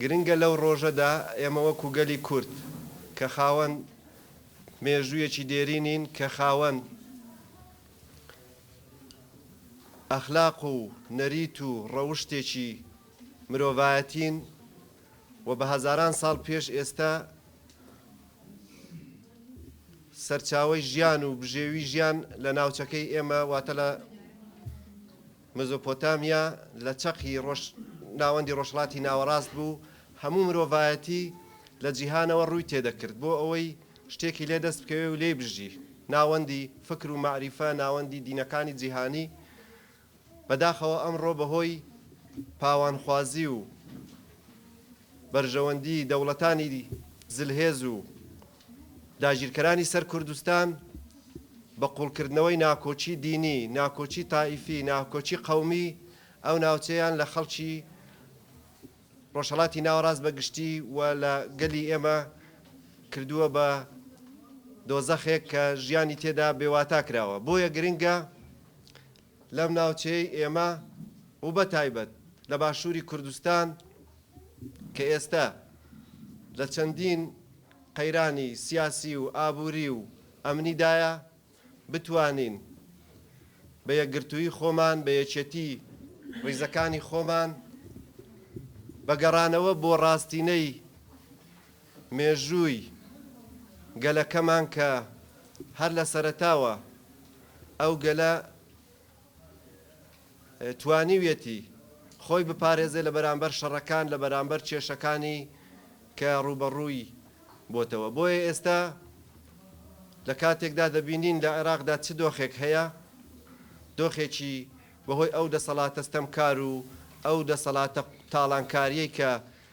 گرنگە لەو ڕۆژەدا ئێمە وەکو گەلی کورد کە خاوەن مێژوویەکی دێرینین، کە خاوەن ئەخلاق و نەریت و ڕەوشتێکی مرۆڤایەتین و بە هەزاران ساڵ پێش ئێستا سەرچاوەی ژیان و بژێوی ژیان لە ناوچەکەی ئێمە واتە لە مزۆپۆتامیا لە چەقی ڕۆژ ناوەندی ڕۆژهەڵاتی ناوەڕاست بوو، هەموو مرۆڤایەتی لە جیهانەوە ڕووی تێدەکرد بۆ ئەوەی شتێکی لێ دەست بکەوێ و لێی بژی، ناوەندی فکر و مەعریفە، ناوەندی دینەکانی جیهانی، بەداخەوە ئەمڕۆ بەهۆی پاوانخوازی و بەرژەوەندی دەوڵەتانی زلهێز و. داگیرکەرانی سەر کوردستان بە قوڵکردنەوەی ناکۆکی دینی، ناکۆکی تائیفی، ناکۆکی قەومی ئەو ناوچەیان لە خەڵکی ڕۆژهەڵاتی ناوەڕاست بە گشتی و لە گەلی ئێمە کردووە بە دۆزەخێک کە ژیانی تێدا بێواتا کراوە. بۆیە گرنگە لەم ناوچەیەی ئێمە و بە تایبەت لە باشووری کوردستان کە ئێستە لە چەندین قەیرانی سیاسی و ئابووری و ئەمنیدایە، بتوانین بە یەکگرتووی خۆمان، بە یەکێتی ڕیزەکانی خۆمان، بە گەڕانەوە بۆ ڕاستینەی، مێژووی گەلەکەمان کە هەر لە سەرەتاوە ئەو گەلە توانیویەتی خۆی بپارێزێ لە بەرامبەر شەڕەکان لە بەرامبەر کێشەکانی کە ڕووبەڕووی بۆتەوە بۆیە ئێستا لە کاتێکدا دەبینین لە عێراقدا چ دۆخێک هەیە دۆخێکی بەهۆی ئەو دەسەڵاتە ستەمکار و ئەو دەسەڵاتە تاڵانکاریەی کە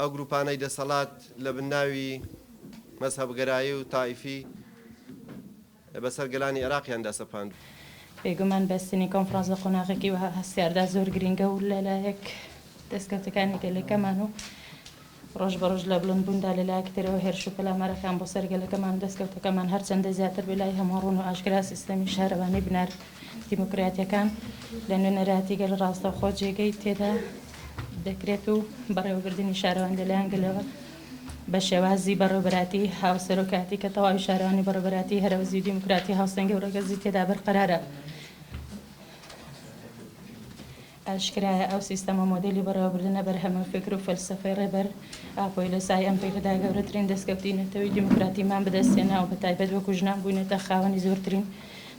ئەو گروپانەی دەسەڵات لە بن ناوی مەزهەبگەرایی و تائیفی بەسەر گەلانی عێراقیان دا سەپاندووە. بێگومان بەستنی کۆنفرانس لە قۆناغێکی وەها هەستیاردا زۆر گرینگە و لەلایەک دەستکەوتەکانی گەلەکەمان و ڕۆژ بە ڕۆژ لە بڵند بووندا لە لایەکی ترەوە هێرش و پەلامارەکان بۆ سەر گەلەکەمان و دەستکەوتەکەمان هەرچەندە زیاتر بێ لای هەموان ڕوون و ئاشکرا سیستەمی شارەوانی بنار دیموکراتیەکان لە نوێنەراتی گەل ڕاستەوخۆ جێگەی تێدا دەکرێت و بەڕێوەبردننی شارەوان لەلایەن گەلەوە بە شێوازی بەڕێوبەراتی هاوسەرۆکاتی کە تەواوی شارانی بەڕێبەراتی هەرەوزی و دیموکراتی هاوسەنگە و ڕگەزی تێدا بەرقەرارە. ئاشکرایە ئەو سیستەم و مۆدێلی بەڕێوەبردنە بەرهەمە فیکر و فەلسەفەی ڕێبەر ئاپۆی لە سای ئەم پێگەدا گەورەترین دەستکەوتی نەتەوەی دیموکراتیمان بەدەستهێنا و بەتایبەت وەکو ژنان بووینەتە خاوەنی زۆرترین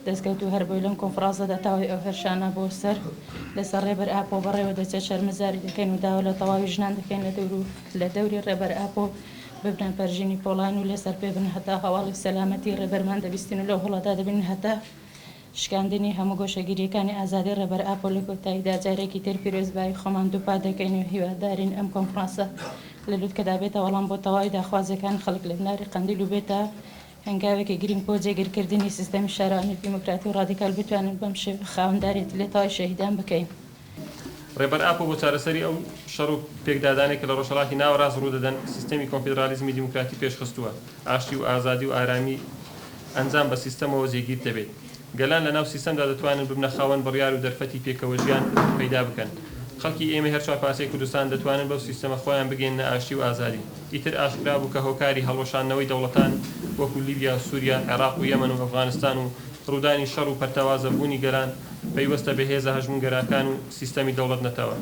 دەستکەوت و هەر بۆی لەم کۆنفڕانسەدا تاوی ئەو هێرشانە بۆ سەر لەسەر ڕێبەر ئاپۆ بەڕێوە دەچێت شەرمەزاری دەکەین و داوا لە تەواوی ژنان دەکەین لە دەور و لە دەوری ڕێبەر ئاپۆ ببنە پەرژینی پۆڵاین و لەسەر پێ بن هەتا هەواڵی سەلامەتی ڕێبەرمان دەبیستین و لەو هەڵەدا دەبین هەتا شکاندنی هەموو گۆشەگیرییەکانی ئازادی ڕێبەر ئاپۆ لە کۆتاییدا جارێکی تر پیرۆزبایی خۆمان دووپات دەکەین و هیوادارین ئەم کۆنفڕانسە لە لوتکەدا بێتە وەڵام بۆ تەواوی داخوازییەکانی خەڵک لە بناری قەندیل و بێتە هەنگاوێکی گرینگ بۆ جێگیرکردنی سیستەمی شارەوانی دیموکراتی و ڕادیکال بتوانین بەم شێوە خاوەنداریەتی لە تەواوی شەهیدان بکەین. ڕێبەر ئاپۆ بۆ چارەسەری ئەو شەڕ و پێکدادانەی کە لە ڕۆژهەڵاتی ناوەڕاست ڕوو دەدەن، سیستەمی کۆنفیدرالیزمی دیموکراتی پێشخستووە، ئاشتی و ئازادی و ئارامی ئەنجام بە سیستەمەوە جێگیر دەبێت. گەلان لەناو سیستەمدا دەتوانن ببنە خاوەن بڕیار و دەرفەتی پێکەوەژیان پەیدا بکەن. خەڵکی ئێمەی هەر چوار پارچەی کوردستان دەتوانن بەو سیستەمە خۆیان بگەیەننە ئاشتی و ئازادی. ئیتر ئاشکرا بوو کە هۆکاری هەڵوەشاندنەوەی دەوڵەتان وەکو لیبیا و سوریا، عێراق و یەمەن و ئەفغانستان و ڕوودانی شەڕ و پەرتەوازە بوونی گەلان، پەیوەستە بە هێزە هەژمونگەراکان و سیستەمی دەوڵەت نەتەوە.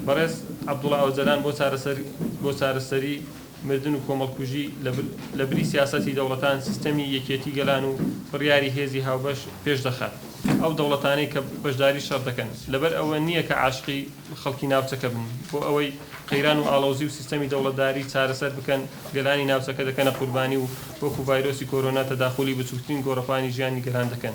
بەڕێز عەبدوڵا ئۆجەلان بۆ چارەسەر بۆ چارەسەری مردن و کۆمەڵکوژی لە بری سیاسەتی دەوڵەتان سیستەمی یەکێتی گەلان و بڕیاری هێزی هاوبەش پێش دەخات ئەو دەوڵەتانەی کە بەشداری شەڕ دەکەن لەبەر ئەوە نییە کە عاشقی خەڵکی ناوچەکە بن بۆ ئەوەی قەیران و ئاڵۆزی و سیستەمی دەوڵەتداری چارەسەر بکەن گەلانی ناوچەکە دەکەنە قوربانی و وەکو ڤایرۆسی کۆرۆنا تەداخولی بچوکترین گۆڕەپانی ژیانی گەلان دەکەن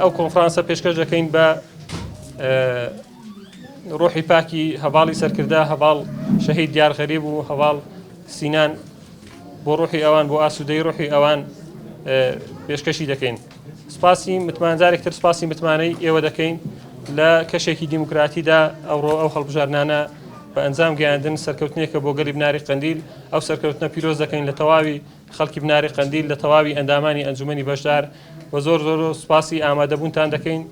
ئەو کۆنفرانسە پێشکەش دەکەین بە ڕۆحی پاکی هەواڵی سەرکردە هەواڵ شەهید دیار غەریب و هەواڵ سینان بۆ ڕۆحی ئەوان بۆ ئاسوودەی ڕۆحی ئەوان پێشکەشی دەکەین سپاسی متمانجارێکتر سپاسی متمانەی ئێوە دەکەین لە کەشێکی دیموکراتیدا ئەوڕۆ ئەو هەڵبژارنانە بە ئەنجام گەیاندن سەرکەوتنێکە بۆ گەلی بناری قندیل ئەو سەرکەوتنە پیرۆز دەکەین لە تەواوی خەڵکی بناری قەندیل لە تەواوی ئەندامانی ئەنجومەنی بەشدار وە زۆر زۆر سوپاسی ئامادەبوونتان دەکەین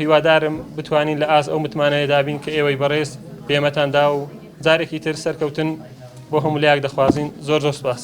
هیوادارم بتوانین لە ئاست ئەو متمانەیەدابین کە ئێوەی بەڕێز پێمەتان دا و جارێکی تر سەرکەوتن بۆ هەمولایەک دەخوازین زۆر زۆر سوپاس.